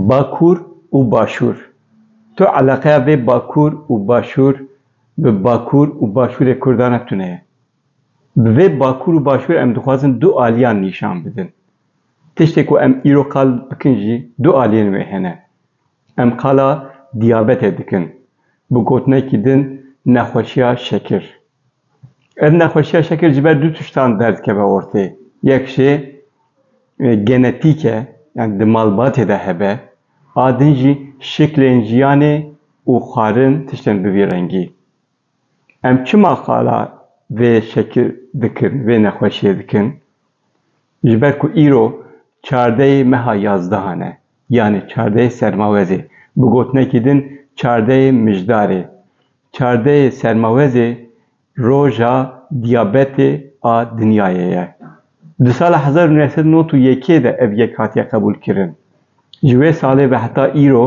Bakur û Başûr, tu eleqeya vê Bakur û Başûr bi Bakur û Başûrê Kurdan re tune ye. Bi vê Bakur û Başûr em dixwazin du aliyan nîşan bidin. Tiştê ku em îro qal bikin jî du aliyên wê hene. Em qala diyabetê dikin, bi gotinekî din nexweşiya şekir. Ev nexweşiya şekir ji ber du tiştan derdikeve ortê. Yek jî genetîk e, yan di malbatê de hebe, a din jî şiklên jiyanê û xwarin tiştin bi vî rengî. Em çima qala vê şekil dikin, vê nexweşiyê dikin? Ji ber ku îro çardeyê meha yazdehan e, yanê çardeyê sermawezê, bi gotinekî din çardeyê mijdarê. Çardeyê sermawezê roja diyabetê a dinyayê ye. Di sala hezar û neh sed û nod û yekê de ev yek hatiye qebûlkirin. Ji wê salê ve heta îro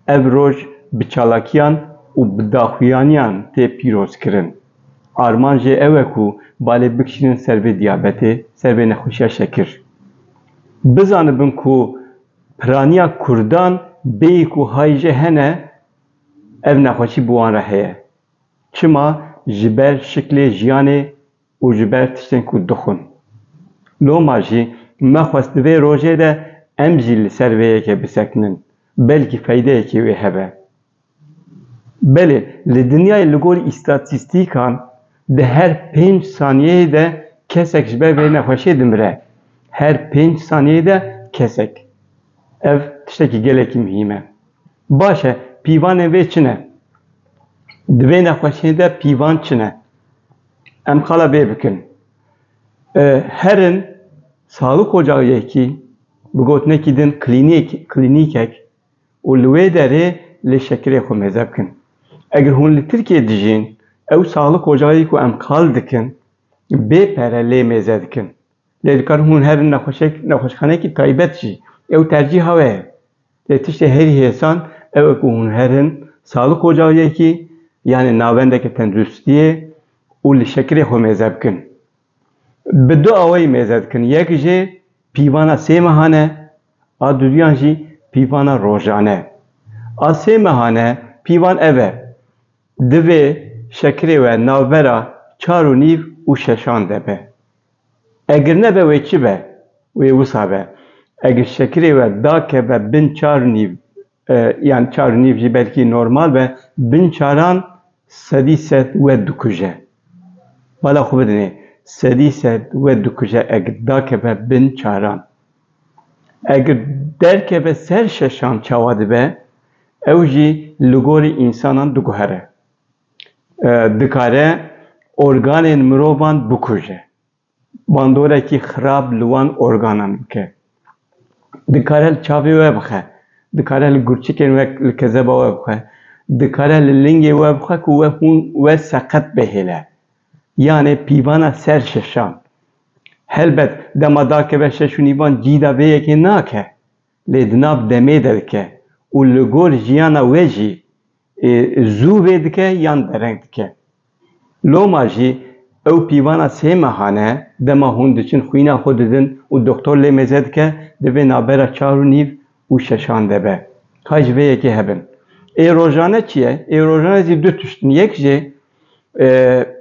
Ev roj bi çalakiyan û bi daxuyaniyan tê pîrozkirin. Armanc jê ew e ku balê bikişînin ser vê diyabetê, ser vê nexweşiya şekir. Bizanibin ku piraniya kurdan bêyî ku hijê hene ev nexweşî bi wan re heye. Çima? Ji ber şiklê jiyanê û ji ber tiştên ku dixwin. Loma jî me xwest di vê rojê de em jî li ser vê yekê bisekinin, belkî feydeyekê wê hebe. Belê li dinyayê li gor îstatîstîkan di her pênc saniyeyê de kesek ji ber vê nexweşiyê dimire. Her pênc saniyeyê de kesek. Ev tiştekî gelekî muhîm e. Baş e pîvanên vê çi ne? Di vê nexweşiyê de pîvan çi ne? Em qala vê bikin. Herin Sadık Ocağı yekî bi gotinekî din klînîk, klînîkek û li wê derê lê şekirê xwe mêze bikin. Eger hûn li Tirkiyeyê dijîn, ew Sadık Ocağı ku em qal dikin bê pere lê mêze dikin. Lê dikarin hûn herin nexweşek, nexweşxaneyekî taybet jî. Ew tercîha we ye. Lê tiştê herî hêsan ew e ku hûn her in salik ocayekî yanê navendeke tenduristiyê û li şekirê xwe mêze bikin. Bi du awayî mêze dikin, yek jî pîvana sê mehan e, a duduyan jî pîvana rojan e. A sê mehan e pîvan ev e, divê şekirê we navbera çar û nîv û şeşan de be. Egir nebe wê çi be? Wê wisa be. Egir şekirê we dakeve bin çar û nîv yan çar û nîv jî belkî normal be, bin çaran sedî sed we dikuje. Bala xwe bidinê, sedî sed we dikuje egir dakeve bin çaran. Egir derkeve ser şeşan çawa dibe? Ew jî li gorî însanan diguhere. dikare organên mirovan bikuje, bandorekî xirab li wan organan bike, dikare li çavê we bixe, dikare li gurçikên we li kezeba we bixe, dikare li lingê we bixe ku we hûn we seqet bihêle. Yanê pîvana ser şeşan. Helbet dema dakeve şeş û nîvan cîda vê yekê nake. lê di nav demê de dike û li gor jiyana we jî zû vê dike yan dereng dike. Loma jî ew pîvana sê mehan e, dema hûn diçin xwîna xwe didin û doxtor lê mêze dike, divê navbera çar û nîv û şeşan de be. Hay ji vê yekê hebin. Ê rojane çi ye? Ê rojane jî du tişt in. Yek jî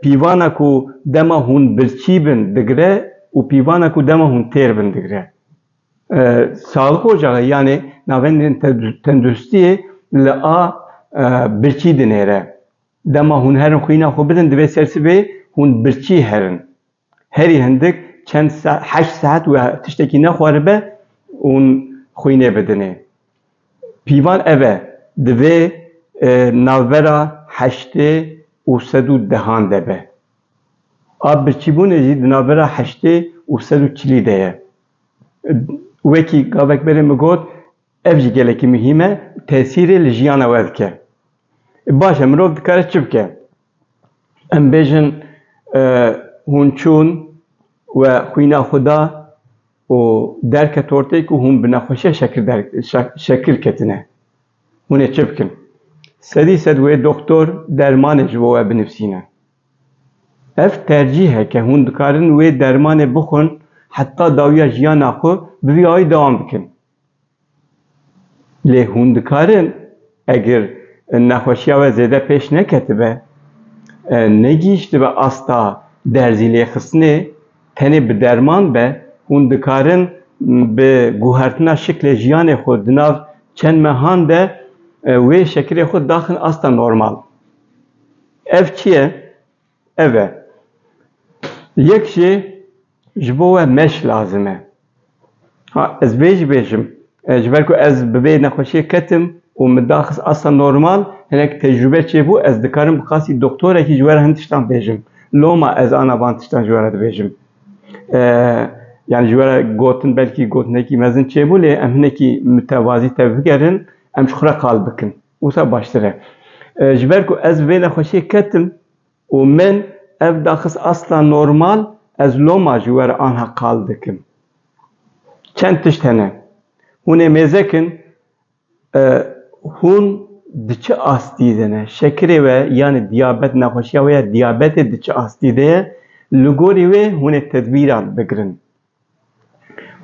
pîvana ku dema hûn birçî bin digire û pîvana ku dema hûn têr bin digire. Saxlıq ocaxê yanê navendên tenduristiyê li a birçî dinêre. Dema hûn herin xwîna xwe bidin divê ser sibê hûn birçî herin. Herî hindik çend saet, heşt saet û tiştekî nexwaribe hûn xwînê bidinê. Pîvan ev e, divê navbera heştê û sed û dehan de be. A birçîbûnê jî di navbera heştê û sed û çilî de ye. Wekî gavek berê min got, ev jî gelekî muhîm e û tesîrê li jiyana we dike. Baş e mirov dikare çi bike? Em bêjin hûn çûn we xwîna xwe da û derket ortê ku hûn bi nexweşiya şekir der şekir ketine. Hûn ê çi bikin? Sedî sed wê doktor dermanê ji bo we binivîsîne. Ev tercîhek e, hûn dikarin wê dermanê bixwin heta dawiya jiyana xwe bi vî ayî dewam bikin. Lê hûn dikarin eger nexweşiya we zêde pêş neketibe, negihîştibe asta derzîlêxistinê tenê bi derman be, hûn dikarin bi guhertina şiklê jiyanê xwe di nav çend mehan de wê şekilê xwe daxin asta normal. Ev çi ye? Ev e. Yek jê ji bo we meş lazim e. Ha ez vê jî bêjim, ji ber ku ez bi vê nexweşiyê ketim û min daxist asta normal, hinek tecrûbe çêbû, ez dikarim bi qasî doktorekî ji we re hin tiştan bêjim. Loma ez ana van tiştan ji we re dibêjim. Yanî ji we re gotin belkî gotinekî mezin çêbû lê em hinekî mitewazî tevbigerin, em ji xwe re qal bikin. Wisa baştir e. Ji ber ku ez vê nexweşiyê ketim û min ev daxist asla normal, ez loma ji we re anha qal dikim. Çend tişt hene. Hûn ê mêzek in. Hûn di çi astî de ne? Şekirê we yanî diyabet, nexweşiya wê ya diyabetê di çi astî de ye? Li gorî wê hûn ê tedbîran bigirin.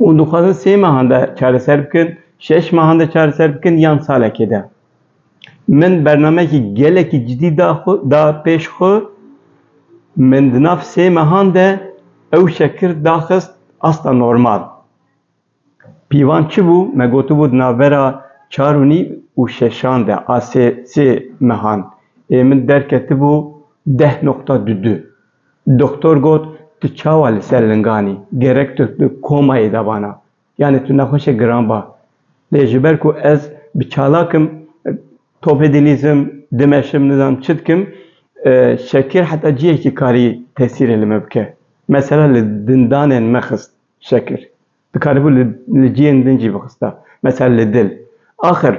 Û dixwazin sê mehan de çareser bikin, şeş mehan de çareser bikin yan salekê de. Min bernameyekî gelekî cidî da xwe da pêş xwe. Min di nav sê mehan de ew şekir daxist asta normal. Pîvan çi bû? Me gotibû di navbera çar û nîv û şeşan de a sê sê mehan ê min derketibû deh noqta du du. Doktor got, Tu çawa li ser lingan î? Gerek tu di komayê de bana. Yanê tu nexweşe giran ba. Lê ji ber ku ez bi çalak im, topê dilîzim, dimeşim, nizanim çi dikim, şekir heta cihekî karî tesîrê li me bike. Mesela li dindanên me xist şekir. Dikaribû li cihên din jî bixista. Mesela li dil. Axir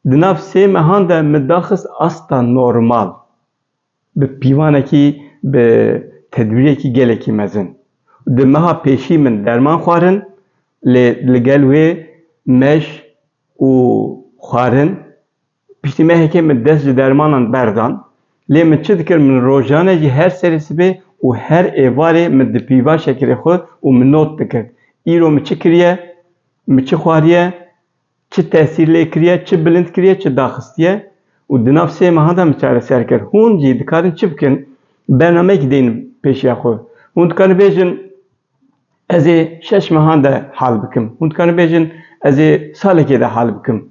di nav sê mehan de min daxist asta normal. Bi pîvanekî, bi tedbîrekî gelekî mezin. Di meha pêşî min derman xwarin lê li gel wê meş û xwarin. Piştî mehekê min dest ji dermanan berdan. Lê min çi dikir min rojane jî her serê sibê û her êvarê min di pîva şekerê xwe û min not dikir. Îro min çi kiriye, min çi xwariye, Çi tesîr lê kiriye, çi bilind kiriye, çi daxistiye û di nav sê mehan de min çareser kir. Hûn jî dikarin çi bikin? Bernameyekî deyin pêşiya xwe. Hûn dikarin bêjin ez ê şeş mehan de hal bikim. Hûn dikarin bêjin ez ê salekê de hal bikim.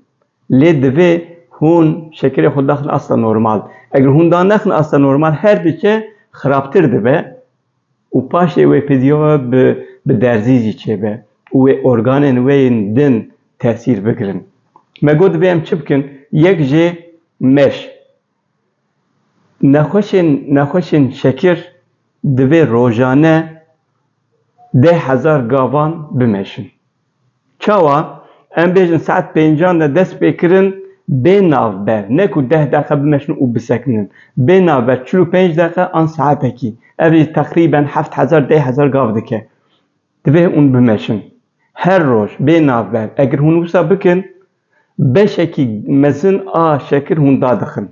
Lê divê hûn şekerê xwe daxin asta normal. Eger hûn da nexin asta normal her diçe xirabtir dibe. û paşê wê pêdiya bi derzî jî çêbe û wê organên wê yên din tesîr bigirin. Me got divê em çi bikin? Yek jê meş. Nexweşên nexweşên şekir divê rojane deh hezar gavan bimeşin. Çawa? Em bêjin saet pêncan de dest pê kirin bê navber, ne ku deh deqe bimeşin û bisekinin. Bê navber çil û pênc deqe an saetekî. Ev jî teqrîben heft hezar deh hezar gav dike. Divê hûn bimeşin. Her roj bê navber. Egir hûn wisa bikin, beşekî mezin a şekir hûn dadixin.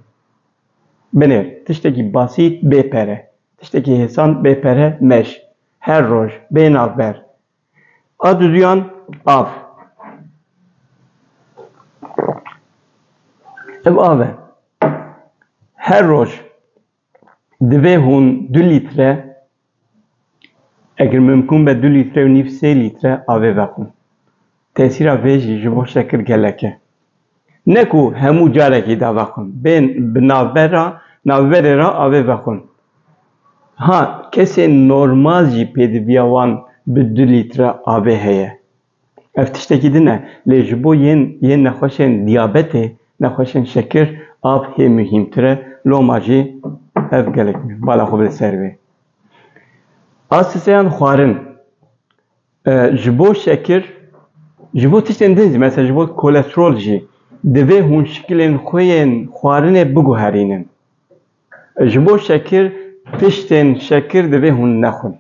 Binê, tiştekî basît bê pere, tiştekî hêsan bê pere meş. Her roj bê navber. A duduyan av. Ev av e. Her roj divê hûn du lître eger mimkûn be du lître û nîv sê lître avê vexwin. Tesîra vê jî ji bo şekir gelek e. Ne ku hemû carekî da vexwin, bên bi navber re, navberê re avê vexwin. Ha kesên normal jî pêdiviya wan bi du lître avê heye. Ev tiştekî din e, lê ji bo yên yên nexweşên diyabetê, nexweşên şekir av hê muhîmtir e, loma jî ev gelek bala xwe bide ser vê. A siseyan xwarin. Ji bo şekir, ji bo tiştên din jî, mesela ji bo kolesterol jî divê hûn şikilên xwe yên xwarinê biguherînin. Ji bo şekir, tiştên şekir divê hûn nexwin.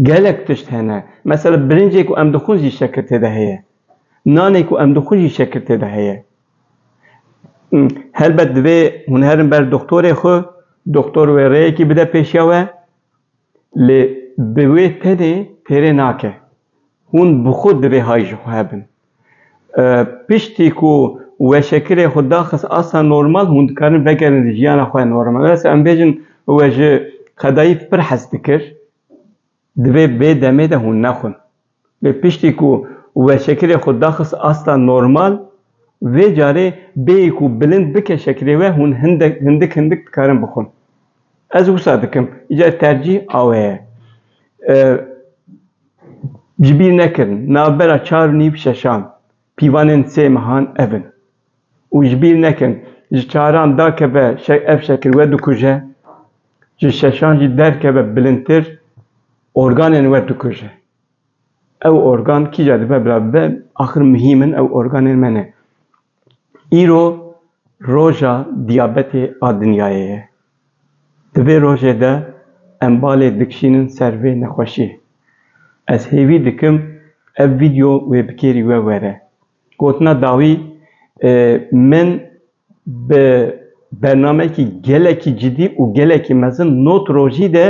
Gelek tişt hene, mesela birincê ku em dixwin jî şekir tê de heye. Nanê ku em dixwin jî şekir tê de heye. Helbet divê hûn herin ber doktorê xwe, doktor wê rêyekî bide pêşiya we. Lê bi wê tenê pêrê nake. Hûn bi xwe divê hay ji xwe hebin. Piştî ku we şekilê xwe daxist asta normal, hûn dikarin vegerin li jiyana xwe ya normal. Lê em bêjin we ji qedayî pir hez dikir, divê vê demê de hûn nexwin. Lê piştî ku we şekilê xwe daxist asta normal, vê carê bêyî ku bilind bike şekilê we hûn hindek hindik hindik dikarin bixwin. Ez wisa dikim, îcar tercîh awe ye. Ji bîr nekirin navbera çar û nîv şeşan. Pîvanên sê mehan ev in û ji bîr nekin, ji çaran dakeve ev şekil we dikuje, ji şeşan jî derkeve bilindtir organên we dikuje. Ew organ kîja dibe bila bibe, axir muhîm in ew organên me ne. Îro roja diyabetê a dinyayê ye. Di vê rojê de em balê dikişînin ser vê nexweşiyê. Ez hêvî dikim ev vîdyo wê bi kêrî we were. Gotina dawî min bi bernameyekî gelekî cidî û gelekî mezin not rojî de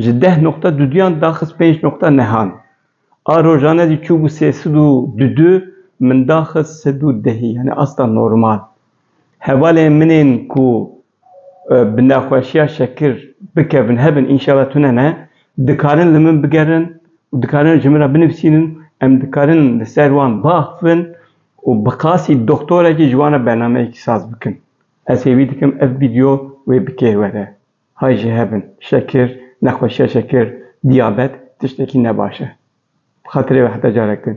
Ji deh noqta duduyan daxist pênc noqta nehan. A rojane jî çûbû sê sed û dudu min daxist sed û dehî yanî asta normal. Hevalên min ên ku bi nexweşiya şekir bikevin hebin înşala tune ne, dikarin li min bigerin û dikarin ji min re binivîsînin, em dikarin li ser wan biaxivin û bi qasî doxtorekî ji wan re bernameyekî saz bikin. Ez hêvî dikim ev vîdeo wê bi kêr were. Hay jî hebin şekir, nexweşiya şekir, diyabet tiştekî ne baş e. Bi xatirê wê heta carek din.